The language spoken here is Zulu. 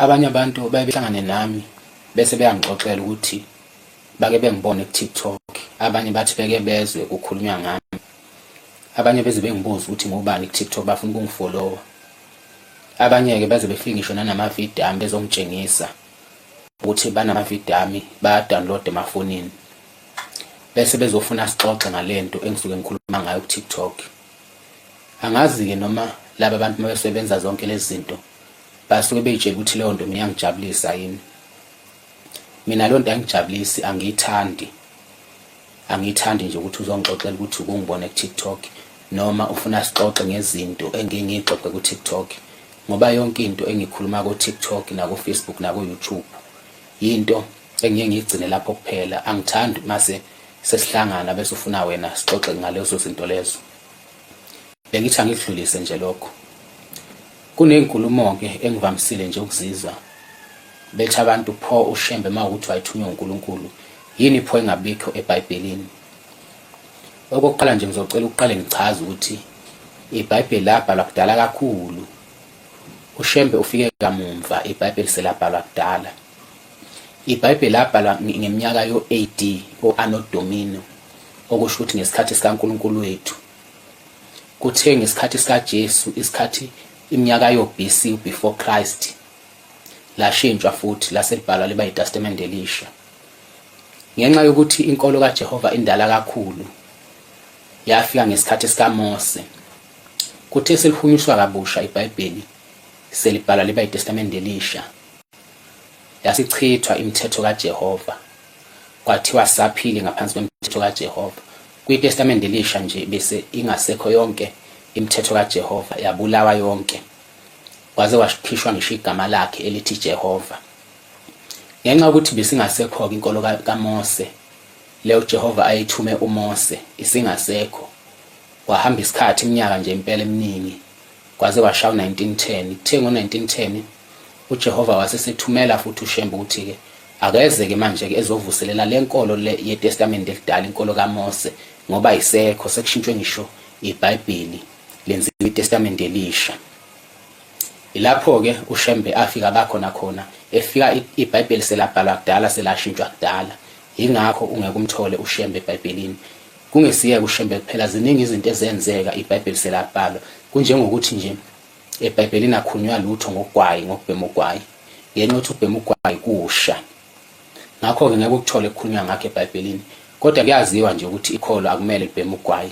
Abanye abantu baye behlangane nami bese beyangixoxela ukuthi bake bengibone ku-TikTok, abanye bathi beke bezwe kukhulunywa ngami. Abanye beze bengibuze ukuthi ngubani ku-TikTok bafuna ukungifolowa. Abanye-ke baze befike ngisho nanamavidiyo ami bezongitshengisa ukuthi banamavidiyo ami bayadownload emafonini bese bezofuna sixoxe ngale nto engisuke ngikhuluma ngayo ku-TikTok. angazi-ke noma laba bantu uma besebenza zonke lezi zinto basuke beyitshela ukuthi leyo nto mina iyangijabulisa yini mina leyo nto ayingijabulisi angiyithandi angiyithandi nje ukuthi uzongixoxela ukuthi ukungibona ku-tiktok noma ufuna sixoxe ngezinto engike ngiyixoxe ku-tiktok ngoba yonke into engikhuluma ku-tiktok naku-facebook naku-youtube yinto engiye ngiyigcine lapho kuphela angithandi mase sesihlangana bese ufuna wena sixoxe ngalezo zinto lezo bengithi angikudlulise nje lokho kunezinkulumo-ke engivamisile nje ukuzizwa bethi abantu pho ushembe uma ukuthi wayethunywa unkulunkulu yini pho engabikho ebhayibhelini okokuqala nje ngizocela ukuqale ngichaze ukuthi ibhayibheli labhalwa kudala kakhulu ushembe ufike kamumva ibhayibheli selabhalwa kudala IBhayibheli labhalwa ngeminyaka yo-AD o-Anno Domino, okusho ukuthi ngesikhathi sikaNkulunkulu wethu. Kuthiwe ngesikhathi sikaJesu, isikhathi iminyaka yo-BC, before Christ, lashintshwa futhi lase libhalwa liba yiTestamente Elisha. Ngenxa yokuthi inkolo kaJehova indala kakhulu, yafika ngesikhathi sikaMose. Kuthe selihunyuswa kabusha iBhayibheli, selibhalwa liba yiTestamente Elisha. Yasichithwa imithetho kaJehova, kwathiwa saphili ngaphansi kwemithetho kaJehova. KwiTestamente Elisha nje bese ingasekho yonke imithetho kaJehova, yabulawa yonke, kwaze kwakhishwa ngisho igama lakhe elithi Jehova. Ngenxa yokuthi besingasekho-ke inkolo kaMose, leyo uJehova ayithume uMose, isingasekho, kwahamba isikhathi iminyaka nje impela eminingi kwaze kwashaya u-1910 kuthe ngo-1910 ujehova wasesethumela futhi ushembe ukuthi-ke akeze-ke manje-ke ezovuselela le nkolo le yetestamende elidala inkolo kamose ngoba isekho sekushintshwe ngisho ibhayibheli lenziwe itestamende elisha ilapho-ke ushembe afika bakhona khona efika ibhayibheli selabhalwa kudala selashintshwa kudala yingakho ungeke umthole ushembe ebhayibhelini Kungesiye kushembe kuphela ziningi izinto ezenzeka iBhayibheli selabhalwa kunjengokuthi nje eBhayibhelini akhunywa lutho ngogwayi ngokubhema ugwayi ngenxa yokuthi ukubhema ugwayi kusha ngakho-ke ngeke ukuthole kukhulunywa ngakho eBhayibhelini kodwa kuyaziwa nje ukuthi ikholo akumele libheme ugwayi